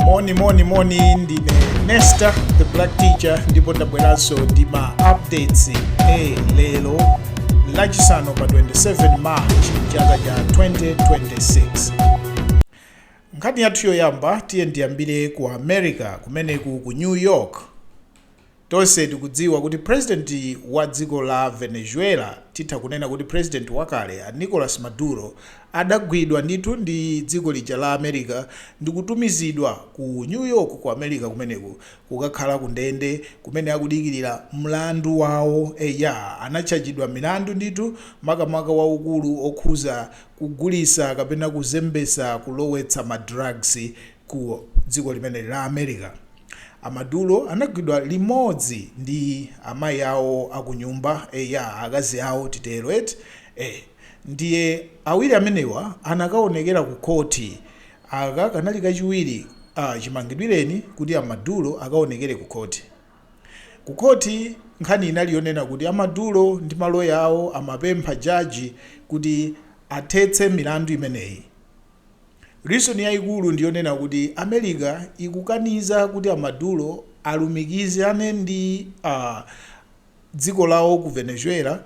moni moni moni ndine nesta the black teacher ndipo ndabweranso ndi ma updates a lero lachisanu pa 27 march chaka cha 2026 nkhani yathu yoyamba tiye ndiyambire ku america kumeneku ku new york Tonse tikudziwa kuti president wa dziko la Venezuela, titha kunena kuti president wakale, a Nicolas Maduro, adagwidwa ndithu ndi dziko lija la America ndikutumizidwa ku New York ku America kumeneku kukakhala ku ndende kumene akudikilira mlandu wawo, eya anatchajidwa milandu ndithu makamaka waukulu okhuza kugulisa kapena kuzembesa, kulowetsa ma drugs ku dziko limeneli la America. A Maduro anagwidwa limodzi ndi amayi awo akunyumba, eya akazi awo titero eti, eh ndiye awiri amenewa anakaonekera ku khothi, aka kanali kachiwiri ah chimangidwireni kuti a Maduro akaonekere ku khothi. Ku khothi nkhani inali yonena kuti a Maduro ndi maloya awo amapempha jaji kuti athetse milandu imeneyi. Reason yaikulu ndiyonena kuti America ikukaniza kuti a Maduro alumikizane ndi a dziko lawo ku Venezuela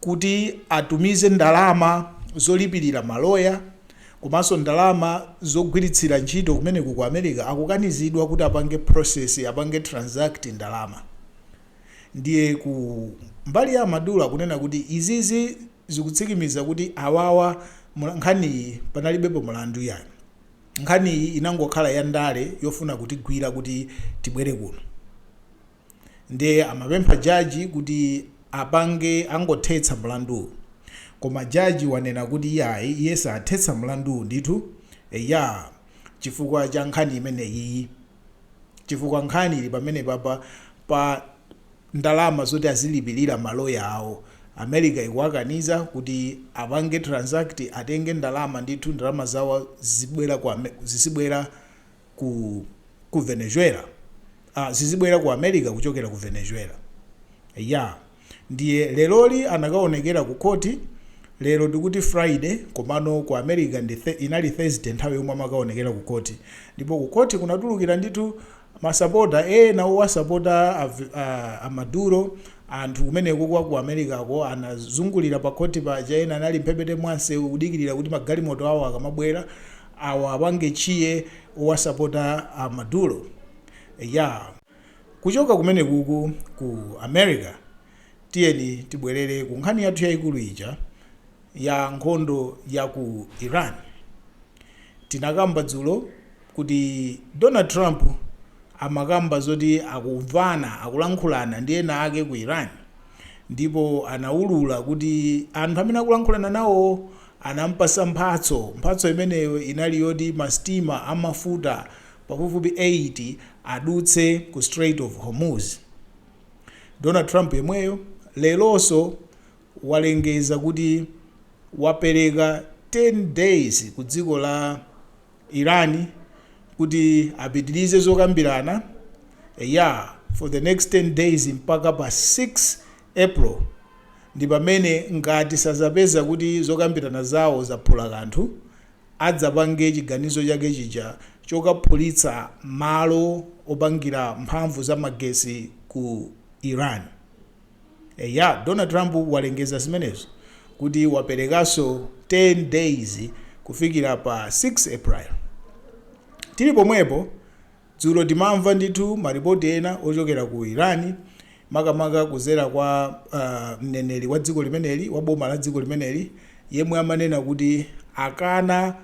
kuti atumize ndalama zolipilira ma lawyer komanso ndalama zogwiritsira ntchito kumeneko ku America akukanizidwa kuti apange process apange transact ndalama ndiye ku mbali ya a Maduro akunena kuti izizi zikutsikimiza kuti awawa nkhaniyi panalibepo mulandu iyayi nkhaniyi inangokhala ya ndale yofuna kutigwira kuti tibwere kuno nde amapempha jaji kuti apange angothetsa mulanduwu koma jaji wanena kuti iyayi iye sathetsa mulanduwu ndithu eya chifukwa cha nkhani imeneyiyi. chifukwa nkhani ili pamenepapa pa ndalama zoti azilipilira ma lawyer awo, America ikuwakaniza kuti apange transact atenge ndalama ndithu ndalama zawo zizibwera ku ku Venezuela, ah zizibwera ku America kuchokera ku Venezuela, eya. Ndiye leroli anakaonekera ku court, lero tikuti Friday komano ku America inali Thursday nthawi yomwe amakaonekera ku court. Ndipo ku court kunatulukira ndithu masapota ena owasapota a Maduro, anthu kumeneko kwa ku Americako anazungulira pa court paja, ena anali mphepete mwa msewu kudikirira kuti magalimoto awo akamabwera awapange cheer owasapota a Maduro. Eya. Kuchoka kumenekuku ku America, tiyeni tibwelere ku nkhani yathu yaikulu ija ya nkhondo ya ku Iran. Tinakamba dzulo kuti Donald Trump amakamba zoti akumvana, akulankhulana ndi ena ake ku Iran, ndipo anaulula kuti anthu amene akulankhulana nawowo anamupatsa mphatso. Mphatso imeneyo inali yoti masitima a mafuta pafupifupi 8 adutse ku Strait of Hormuz. Donald Trump yemweyo leronso walengeza kuti wapereka 10 days ku dziko la Iran kuti apitirize zokambirana eya for the next 10 days mpaka pa 6 April ndi pamene ngati sazapeza kuti zokambirana zawo zaphula kanthu adzapange chiganizo chake chija chokaphulitsa malo opangira mphamvu za magesi ku Iran. Eya, Donald Trump walengeza zimenezo kuti waperekanso 10 days kufikira pa 6 April. Tili pomwepo, Dzulo timamva ndithu maripoti ena ochokera ku Iran makamaka kudzera kwa mneneri wa dziko limeneli wa boma la dziko limeneli yemwe amanena kuti akana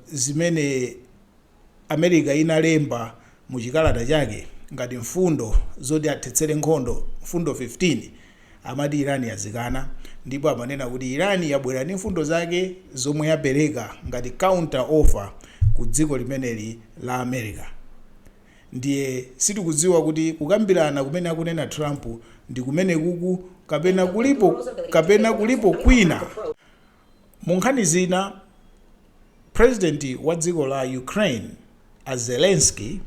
zimene America inalemba mu chikalata chake ngati mfundo zoti athetsere nkhondo, mfundo 15. Amati Iran yazikana ndipo amanena kuti Iran yabwera ndi mfundo zake zomwe yapereka ngati counter offer ku dziko limeneli la America. Ndiye sitikudziwa kuti kukambirana kumene akunena Trump ndi kumenekuku kapena kulipo kwina. Mu nkhani zina, Prezidenti wa dziko la Ukraine a Zelenskyy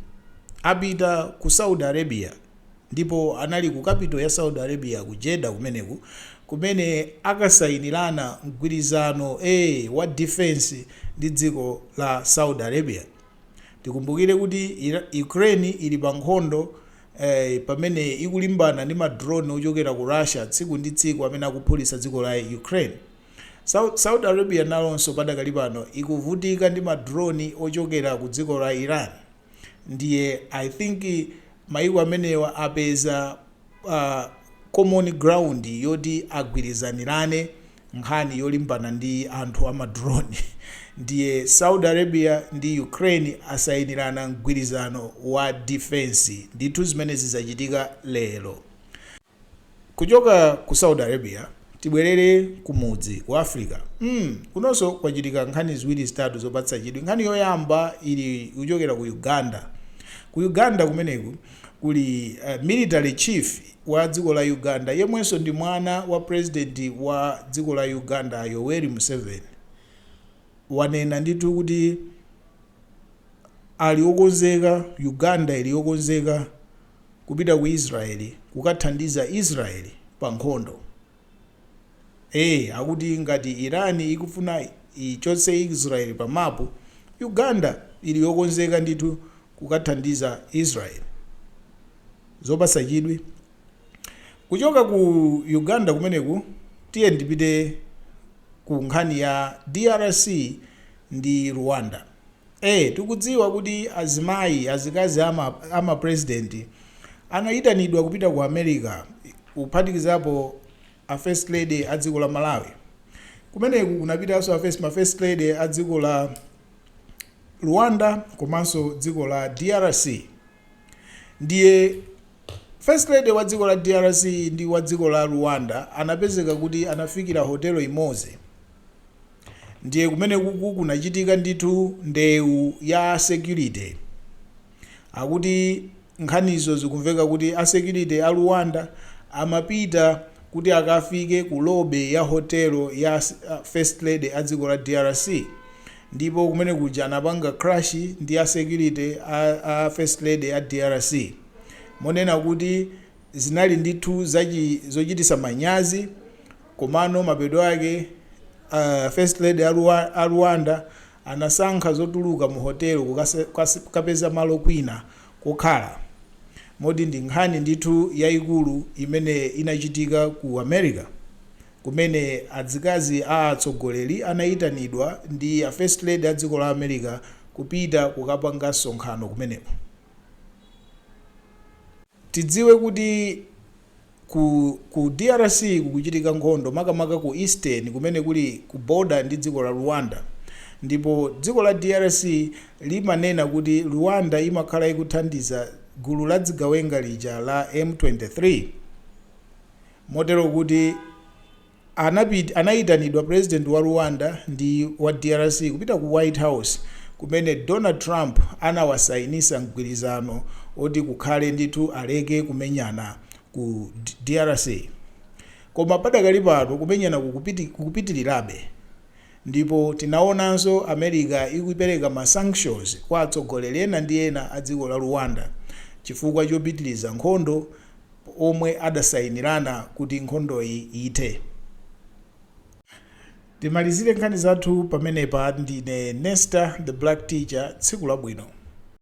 apita ku Saudi Arabia ndipo anali ku capital ya Saudi Arabia ku Jeddah kumeneku kumene akasayinirana mgwirizano ee wa defence ndi dziko la Saudi Arabia. Tikumbukire kuti Ira Ukraine ili pa nkhondo pamene ikulimbana ndi ma drone ochokera ku Russia tsiku ndi tsiku amene akuphulitsa dziko la Ukraine. Saudi Arabia nalonso padakali pano ikuvutika ndi ma drone ochokera ku dziko la Iran. Ndiye I think mayiko amenewa apeza common ground yoti agwirizanirane nkhani yolimbana ndi anthu a ma drone ndiye Saudi Arabia ndi Ukraine asayinirana mgwirizano wa defence ndithu zimenezi zachitika lero kuchoka ku Saudi Arabia tibwerere kumudzi ku Africa mm, kunonso kwachitika nkhani ziwiri zitatu zopatsa chidwi nkhani yoyamba ikuchokera ku Uganda ku Uganda kumeneku kuli uh, military chief wa dziko la Uganda yemwenso ndi mwana wa president wa dziko la Uganda a Yoweri Museveni wanena ndithu kuti ali okonzeka Uganda ili yokonzeka kupita ku Israel kukathandiza Israel pa nkhondo eh akuti ngati Iran ikufuna ichotse Israel pa mapu Uganda ili yokonzeka ndithu kukathandiza Israel. Zopasa chidwi. Kuchoka ku Uganda kumeneku tiyeni tipite ku nkhani ya drc ndi Rwanda. Eee tikudziwa kuti azimayi, azikazi ama ama president anayitanidwa kupita ku America kuphatikizapo a first lady a dziko la Malawi. Kumeneku kunapitanso a first ma first lady a dziko la. Rwanda komanso dziko la DRC ndiye First Lady wa dziko la DRC ndi wa dziko la Rwanda anapezeka kuti anafikira hotelo imodzi ndiye kumeneku kunachitika ndithu ndewu ya security akuti Nkhanizo zikumveka kuti a security a Rwanda amapita kuti akafike ku lobby ya hotel ya First Lady a dziko la drc ndipo kumenekuja anapanga clash ndi a security a a First Lady a drc monena kuti zinali ndithu zachi zochitisa manyazi komano mapeto ake a First Lady a Rwanda anasankha zotuluka mu hotel kukapeza malo kwina kokhala, moti ndi nkhani ndithu yaikulu imene inachitika ku America kumene adzikazi a atsogoleri anaitanidwa ndi a First Lady a dziko la America kupita kukapanga nsonkhano kumeneko. Tidziwe kuti ku ku drc kukuchitika nkhondo makamaka ku eastern kumene kuli ku border ndi dziko la Rwanda ndipo dziko la drc limanena kuti Rwanda imakhala ikuthandiza gulu la dzigawenga lija la M23 motero kuti anapita, anayitanidwa president wa Rwanda ndi wa drc kupita ku white house kumene Donald Trump anawasayinisa mgwirizano oti kukhale ndithu aleke kumenyana ku drc koma padakali pano kumenyana kukupitilirabe ndipo tinaonanso America ikupereka ma sanctions kwa atsogoleri ena ndi ena a dziko la Rwanda chifukwa chopitiliza nkhondo omwe adasayinirana kuti nkhondoyi ithe. Timalizire nkhani zathu pamenepa. Ndine Nestah The Black Teacher, tsiku labwino.